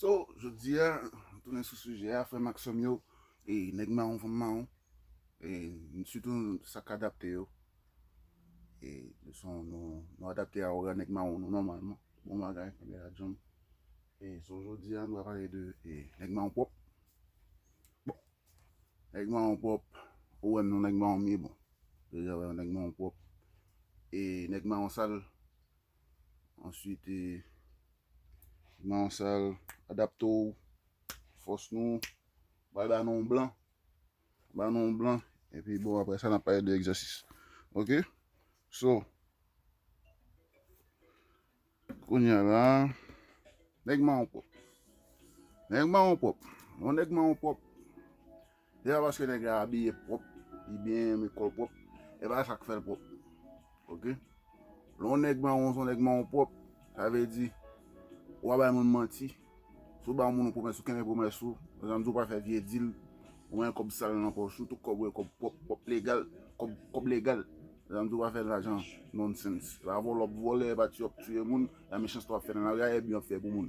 So, jodi a, m tounen sou sijè a, frè m ak sè m yo, e nèg mawon, fanm mawon, e sitou sa k adapte yo, e nou se yon, nou adapte a ora nèg mawon nou nòmalman, bon bagay, premye radyo m. E so jodi a, nou va pale de nèg mawon pwòp. Bon, nèg mawon pwòp, ou wè m non nèg mawon m ye, bon, deja wè yon nèg mawon pwòp, e nèg mawon sal. Answit, nan yon sal, adapte w, fòs nou, pral ba nou yon blan. Ba nou yon blan, epi bon apre sa n ap pale de egzèsis. Ok? So, kounya la, nèg mawon pwòp. Nèg mawon pwòp. Yon nèg mawon pwòp. Se pa paske nèg la abiye pwòp, li byen renmen kò l pwòp, e pa sa k fè l pwòp. Ok. Lè yon nèg mawon se yon nèg mawon pwòp, sa vle di ou pa bay moun manti. Si w ba moun yon pwomès, ou kenbe pwomès ou. Lè sa m di ou pa fè vye dil, ou pa gen kòb sal nan pòch ou. Tout kòb ou gen kòb pwòp, kòb legal. Kòb legal. Lè sa m di ou pa fè lajan nonsense. E pa vòlè w ap vòlè, e pa tiye w ap tiye moun. E pa mechanste w ap fè nan lari a, e byen w ap fè pou moun.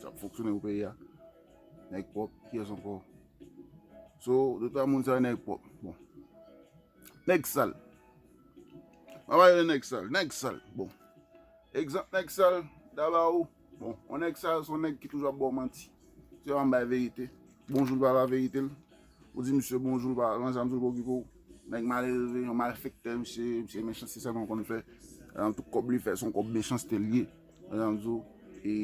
Sa ap fonksyone pou peyi a. Nèg pwòp, kiyès ankò? So, de twa moun sa yo nèg pwòp. Bon. Nèg sal. Mwen pa rele nèg sal. Nèg sal. Bon. Egzanp nèg sal, m ta ba ou. Bon. On nèg sal, son nèg ki toujou ap ba w manti. Se pa m bay verite. Bonjou l pa ba verite l. Ou di misye bonjou pa lan janm zouko kiko nèg malelve yon malfektè misye ye misye mechanste sèlman konn fè lan tout kòb li fè son kòb mechanste liye lan janm di w e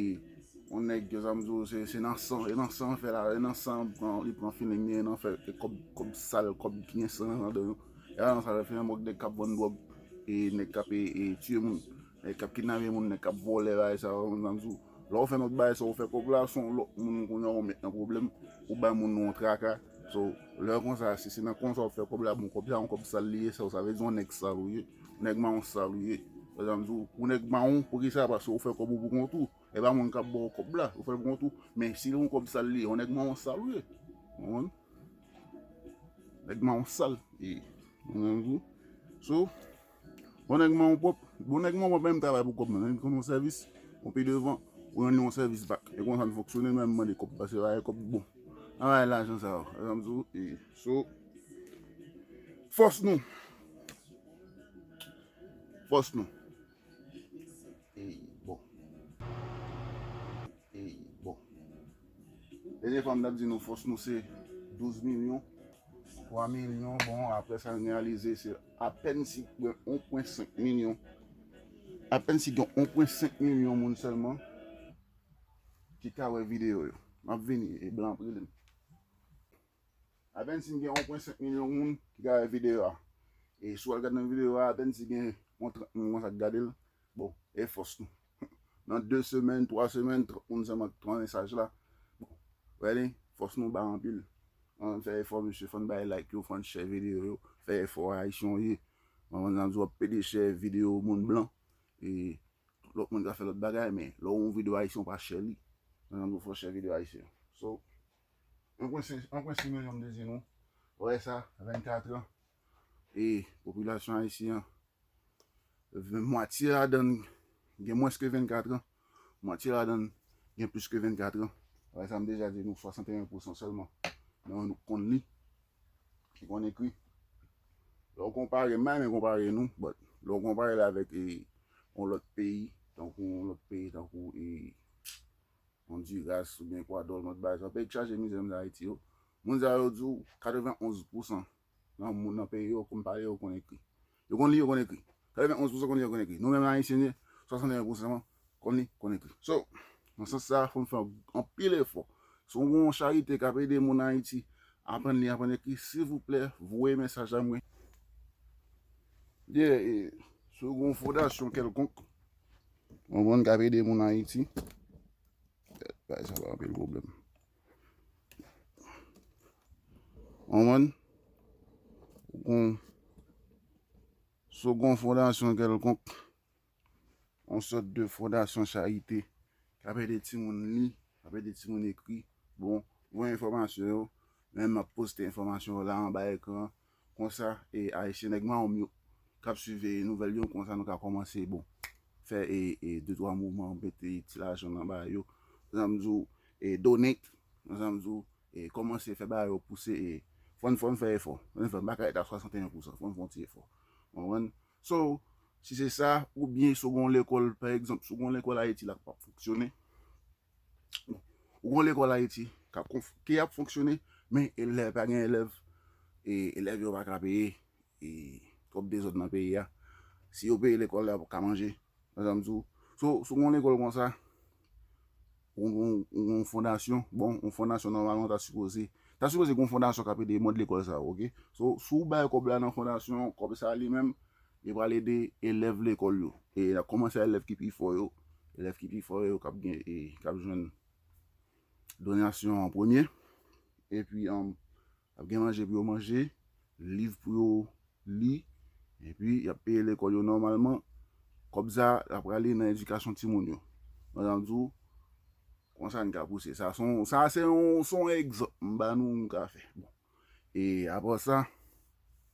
yon nèg lan janm di w se se nan san e nan san an fè la e nan san an li pran filing li e nan fè e kòb kòb sal kòb ki gen san nan ladan yo e lan sa fè yon mòg nèg kap vann dwòg e nèg kap e e tiye moun. Nèg kap kidnape moun nèg kap vòlè bagay sa yo mezanmi sou lè ou fè lòt bagay sa ou fè kòb la son lòt moun kounya ou met nan pwoblèm ou bay moun nan yon traka so lè konsa si se nan konsa wap fè kòb la bon kòb sa yon kòb sal li ye so sa vle di yon nèg sal ou ye yon nèg mawon sal ou ye mezanmi sou ou nèg mawon poukisa paske ou fè kòb ou pou kont ou e pa moun kap baw kòb la ou fèl pou kont ou men si yon kòb sal li ye yon nèg mawon sal ou ye ou konprann nèg mawon sal li ye mezanmi sou so. Bon nèg manman w pwòp. Bon nèg manman w pwòp menm travay pou kòb nan menm kòm yon sèvis pou pi devan ou rann yon sèvis bak e konsa n fonksyone nou menm mande kòb pase bay kòb bon an bay lajan sa yo e sa m di w e so fòs nou fòs nou e bon e bon. Dènye fwa m tap di nou fòs nou se 12 milyon, 3 milyon bon aprè sa n reyalize se apèn si gen 1.5 milyon, apèn si gen 1.5 milyon moun sèlman ki ka wè videyo yo. Map vini e blan ap rele m. Apèn si n gen 1.5 milyon moun ki ka wè videyo a. E si w al gade nan videyo a apèn si gen yon 30 moun konsa k gade l, bon e fòs nou. Nan 2 semèn, 3 semèn, 30 moun sèlman ki pran mesaj la. Ready? Fòs nou ba anpil. Ann fè efò mesye, fò n bay like yo, fò n share video yo. Fè efò a, Ayisyen w ye. Mwen konn nan di w ap pede share video moun blan. E tout lòt moun ka fè lòt bagay men lè w wè yon video Ayisyen w pa share li. Mwen nan di w fò w share video Ayisyen yo. So, anpwen se, anpwen se milyon m te di nou. Wè sa, 24 an, E popilasyon ayisyen an, mwatye ladan l gen mwens ke 24 an, mwatye ladan l gen plis ke 24 an. Bagay sa m deja di nou 61 pousan sèlman nan nou k konn li, ki konn ekri. Lè w konpare, m pa renmen konpare nou, but lè w konpare l avèk yon lòt peyi, tankou yon lòt peyi tankou e Ondiras oubyen Ekwadò, yon lòt bagay sa yo, peyi k chaje mizè menm jan Ayiti yo, moun sa yo di w 91 pousan Nan moun nan peyi yo konn pale yo konn ekri. Yo konn li yo konn ekri. 91 pousan konn li yo konn ekri. Nou menm ayisyen 61 pousan konn li konn ekri. So nan sans sa fòn fè anpil efò. Si w gon charite k ap ede moun ayiti aprann li aprann ekri silvouplè voye mesaj a mwen. Yeah e si w gon fondasyon kèlkonk ou konprann k ap ede moun ayiti. Bagay sa pa anpil pwoblèm. Konprann? Kon so gon fondasyon kèlkonk, on sòt de fondasyon charite, k ap ede timoun li, k ap ede timoun ekri, bon, voye enfòmasyon yo, men m ap poste enfòmasyon yo la anba ekran an, Konsa e ayisyen nèg mawom yo kap swiv e nouvèl yo konsa nou ka kòmanse bon fè e e de twa mouvman mete ti lajan nan ba yo konsa m di w e donate konsa m di w e kòmanse fè bagay yo pouse e fòn fòn fè efò fòn fòn pa ka ret a 61 pousan fòn fon ti efò ou konprann so si se sa oubyen si w gon lekòl pa egzanp si w gon lekòl ayiti la k pap fonksyone. Ou gen yon lekòl Ayiti ki ap fonksyone, men elèv, pa gen elèv, e elèv yo pa ka peye, e twòp dezòd nan peyi a. Si yo peye lekòl la, yo pa ka manje. Wè sa m di ou? So, si w gen yon lekòl konsa, ou gen yon fondasyon, bon, yon fondasyon nòmalman ta sipoze, ta sipoze gen yon fondasyon k ap ede mòd lekòl sa yo, ok? So, si w bay kòb la nan fondasyon, kòb sa li menm, Li pral ede elèv lekòl yo. E n ap kòmanse a elèv ki pi fò yo. Elèv ki pi fò yo k ap gen e k ap jwenn donasyon an premye. Epi, ap gen manje pou yo manje, liv pou yo li. Epi, y ap peye lekòl yo nòmalman. Kòb sa a, l ap prale nan edikasyon timoun yo. Mwen jan m di w, kon sa n ka pouse sa. Son, sa a se yon, se yon egzanp m ba nou, nou ka fè. Bon, e apre sa.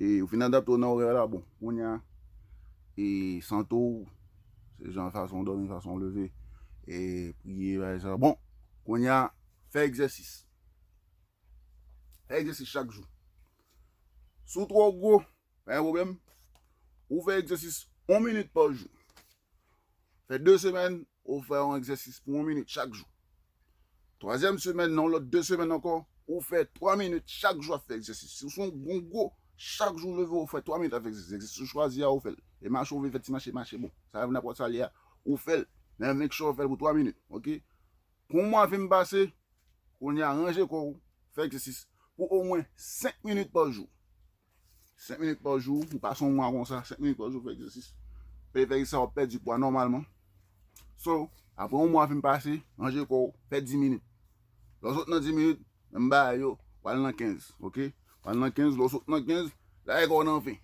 E ou fin adapte w nan orè la bon. Kounye a, e sante w, se jan fason w dòmi, fason w leve, e priye bagay sa. Bon, kounye a, fè egzèsis. Fè egzèsis chak jou. Si w twò gwo, pa gen pwoblèm, ou fè egzèsis yon minit pa jou. Fè 2 semèn ou fè yon egzèsis pou 1 minit chak jou. Twazyèm semèn nan yon lòt 2 semèn ankò ou fè 3 minit chak jou ap fè egzèsis. Si ou se yon bon gwo, chak jou ou leve ou fè 3 minit ap fè egzèsis. Egzèsis ou chwazi a ou fèl. E mache ou vle fè ti mache, mache bon. Sa nenpòt sa li a ou fèl. Men make sure ou fèl pou 3 minit. Ok. Pou yon mwa fin pase, kounya ranje kò ou, fè egzèsis pou omwen 5 minit pa jou. 5 minit pa jou, ou pa son mwa konsa, 5 minit pa jou fè egzèsis. Fè fè sa ou pèdi pwa nòmalman. So, apre yon mwa fin pase, ranje kò ou, fè 10 minit. Lò sot nan 10 minit, menm ba yo, wal nan 15, ok? Wal nan 15, lò sot nan 15, la e kò nan 20.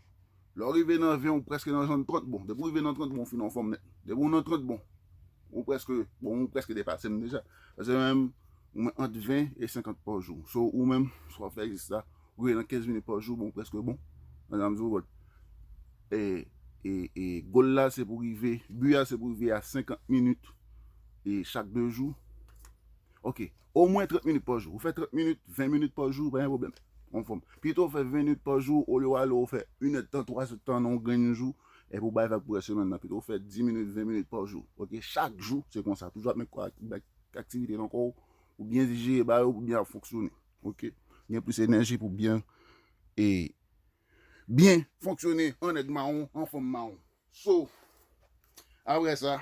Lò rive nan 20, ou preske nan zòn 30 bon. Depi ou rive nan 30 bon, ou fin an fòm nèt. Depi ou nan 30 bon, ou preske, bon ou preske depase m deja. Pase menm, ou men ant 20 e 50 pa jou. So, ou menm, sou ap fè egzèsis la, Wi nan 15 minit pa jou bon preske bon nan sa m di w but e goal la se pou rive but a se pou rive a 50 minit e chak 2 jou ok o mwen 30 minit pa jou ou fè 30 minit 20 minit pa jou pa gen pwoblèm ou anfòm pito ou fè 20 minit pa jou olye w ale ou fè 1 èd tan 3 èd tan nan yon grenn jou epi ou bay vag pou rès semèn nan pito ou fè 10 minit 20 minit pa jou ok chak jou se konsa toujou ap met kò ak bay aktivite nan kò w pou byen dijere ba yo pou byen ap fonksyone. Ok gen plis enèji pou byen e byen fonksyone an nèg mawon an fanm mawon so apre sa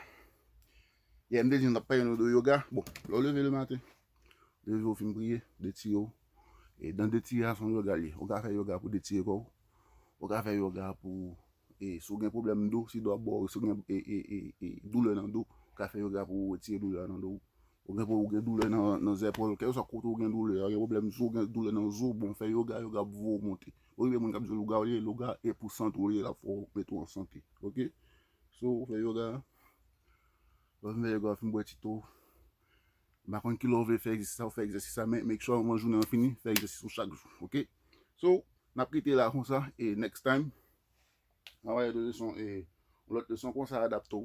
yè m te di n ap pale nou de yoga bon lè w leve le maten leve w fin priye detire w e dan detire a se yon yoga li ye ou ka fè yoga pou detire kò w ou ka fè yoga pou e si w gen pwoblèm do si do ap bo w si w gen e e e doulè nan do ou ka fè yoga pou retire doulè a nan do w Ou gen pou ou gen doulè nan zèpòl, kèlkeswa kote ou gen doulè a, ou gen pwoblèm zo, ou gen doulè nan zo, bon fè yoga, yoga ap voye w monte. Ou gen moun k ap di w lougarou ye, louga e pou sante w li ye, l ap fè w mete w an sante. Ok? So ou fè yoga, lè w fin fè yoga ou fin bwè ti to, m pa konn ki lè ou vle fè egzèsis sa, ou fè egzèsis sa men make sure anvan jounen an fini, fè egzèsis ou chak jou. Ok? So, n ap kite la konsa e next time, n ap ale de leson e yon lòt leson, kòmanse a adapte w.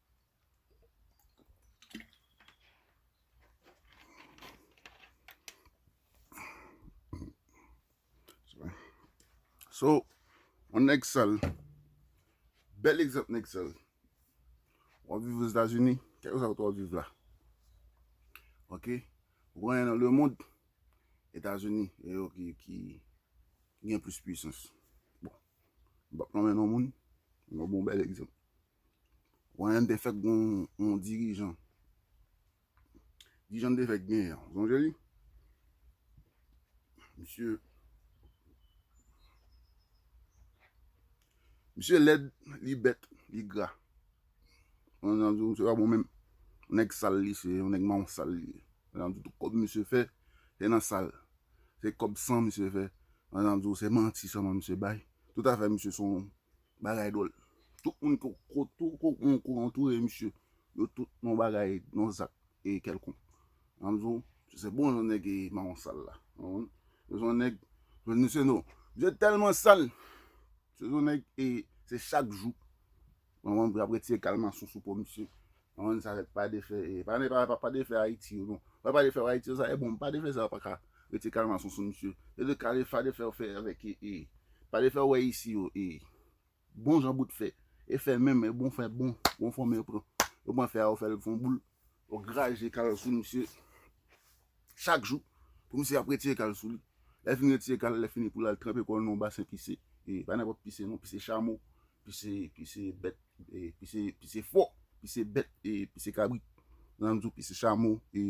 So, on nèg sal. Bèl egzant nèg sal. Wap viv ou Etazini, kèk ou sa wap viv la. Ok? Wap yon nan le moun, Etazini, e yo ki gen plus puissance. Bon, bak nan men yon moun, yon bon bèl egzant. Wayne te fèk gon yon dirijan. Dirijan te fèk gen yon. Zonje li? Misye. Misye led, li bet, li gra. Yon nan di misye pa bon menm. Yon nèk sal li se, yon nèk maron sal li. Yon nan di tout kob misye fè, se nan sal. Se kob san misye fè. Yon nan di ou se manti sa man misye bay. Tout afè misye son. Bagay dwòl. Tout moun ki kou antoure misye, yo tout nan bagay, nan zak e kèlkonk. An m di w, se bon jan nèg e mawon sal la. Se jan nèg, jwenn misye non. Misye tèlman sal, se jan nèg e se chak jou, mawon an ap retire kalmasyon sou po misye. Manman sa ret pa defè e pa nan epa pa defè ayiti yo non wè pa defè ayiti yo sa e bon pa defè sa yo pa ka rete kalmason sou misye e de kale fa defè ou fè avèk e e pa defè ou wè isi yo e bon jan bout fè e fè menm e bon fè bon bon fò men pran ou pran fè a ou fèl fon boul ou graje kal sou misye chak jou pou misye ap retire kal sou li lè fini retire kal lè fini pou lal tranpe kòl nan yon basen pise e pa nenpòt pise non pise chamo Pise pise bèt pise pise fò pise bèt pise kabrit nan m di w pise chamo e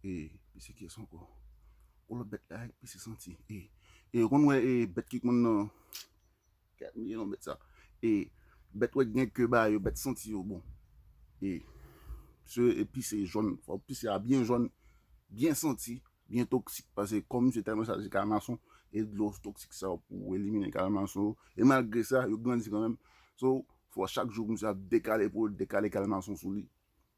e pise kiyès ankò yon lòt bèt la pise santi e e ou konn wè e bèt ki konn nan kèt m bliye non bèt sa e bèt wè ki gen ke ba yo bèt santi yo bon e se pise jòn fò pise a byen jòn byen santi Byen toksik pase kò misye tèlman chaje kalmason e dlo toksik sa yo pou elimine kalmason yo e malgre sa yo grandi kanmenm so fò chak jou misye ap dekale pou l dekale kalmason sou li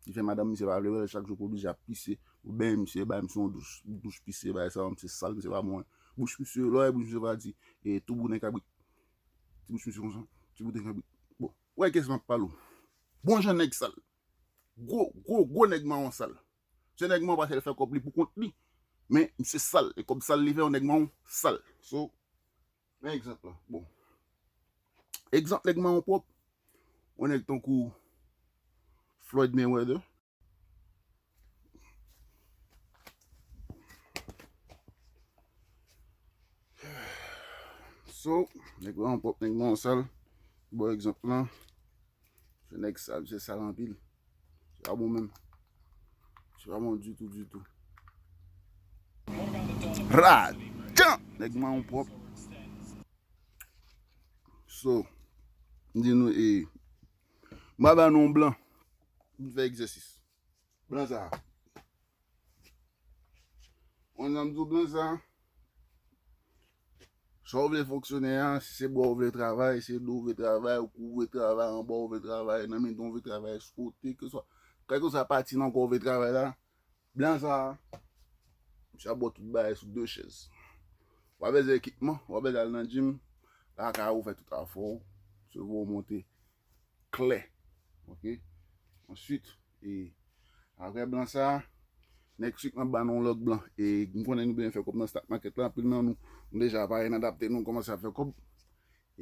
ki fè madanm misye pa vle wè l chak jou pou oblije ap pise pou benyen misye bay misye yon douch douch pise bagay sa yo misye sal misye pa bon bouch misye lè w wè bouch misye pa di e tou bouden kabrit ti bouch misye konsa ti bouden kabrit bon wè kiyès m ap pale w bon jan nèg sal gwo gwo gwo nèg mawon sal. Se nèg manw pasel fè kòb li pou kont li men misye sal e kòb sal li fè yo nèg manw sal so men egzanp lan bon egzanp nèg manw pwòp yon nèg tankou Floyd Mayweather so nèg manw pwòp nèg manw sal bon egzanp lan. Se nèg sal, misye sal anpil. Se pa bon menm. Se pa bon ditou ditou. Rad! Jan! Nèg mawon pwòp. So, m di nou e, m ba ba nou yon blan, m fè egzèsis. Blan sa a. Mwen janm di w blan sa, sa w vle fonksyone a, si se bwa w vle travay, si se do w vle travay, ou kou w vle travay, anba w vle travay, nan mitan w vle travay, sou kote, kèlkeswa pati nan kò w vle travay la, blan sa, misye ap ba w tout bagay sou de chèz. Wap bezwen ekipman, wap bezwen al nan djim, lakay ou fè tout afè w, sèvo w monte. klè ok answit e aprè blan sa nèg sik lan banou yon lòt blan e m konnen nou byen fè kòb nan stak makèt la anpil nan nou nou deja parèn adapte nou kòmanse ap fè kòb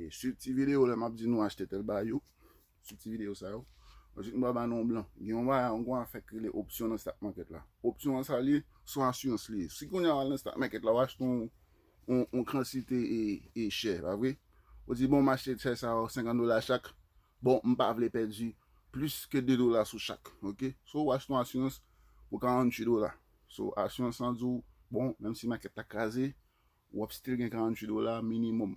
e swiv ti videyo lè map di nou achte tèl bagay yo swiv ti videyo sa yo answit m pral banou yon blan gen yon bagay yon gwa afè ki rele opsyon nan stak makèt la opsyon an sa li ye son asirans li ye si kounya wal nan stak makèt la wap achte yon yon kansite e chè, pa vre? Ou di bon mache chè sa yo 50 dola chak, bon m pa vle pèdi plis ke 2 dola sou chak, ok? So ou achte yon asirans pou 48 dola. So asirans lan di w, bon menm si makèt la kraze, w ap still gen 48 dola minimòm.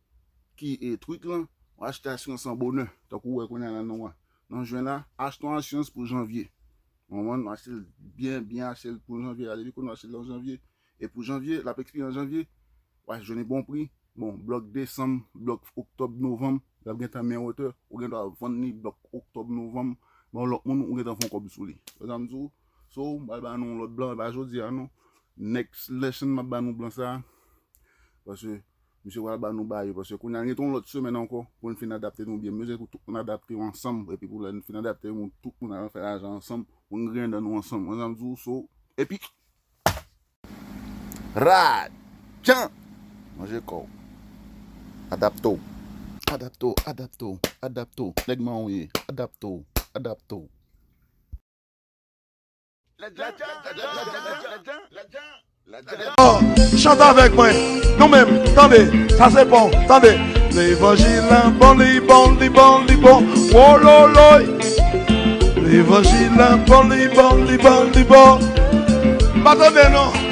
ki e tweet lan, ou achte asyans lan bonè, tankou ou wè kounya la nan nan juin la, achte yon asyans pou janvier. Ou konprann? Nou achte l byen byen achte l pou janvier la, depi kounye a ou achte l nan janvier e pou janvier, lap ekspire nan janvier, wap jwenn li bon pri, bon block desanm, block octobre, novembre, lap gentan men wotè, ou gen dwa vann li block octobre, novembre ba yon lòt moun ou gentan fè yon kòb sou li. Wè sam di w? So, m pral ba nou yon lòt blan, e pa jodi a non. Next lesson map ba nou blan sa, paske. Misye pral ba nou bayo paske kounye a n gen ton lòt semèn ankò pou n fin adapte nou byen. M bezwen pou tout moun adapte yo ansanm epi pou lè n fin adapte yo moun tout moun al fè lajan ansanm pou n griyen dan nou ansanm. Konn sa m di w so epi rad jan manje kò w adapte w. Adapte w adapte w adapte w nèg manw ye adapte w adapte w. Chante avèk mwen, nou menm, tande, sa se bon, tande Levanjil la bon, li bon, li bon, li bon, wololoy Levanjil la bon, li bon, li bon, li bon Patande non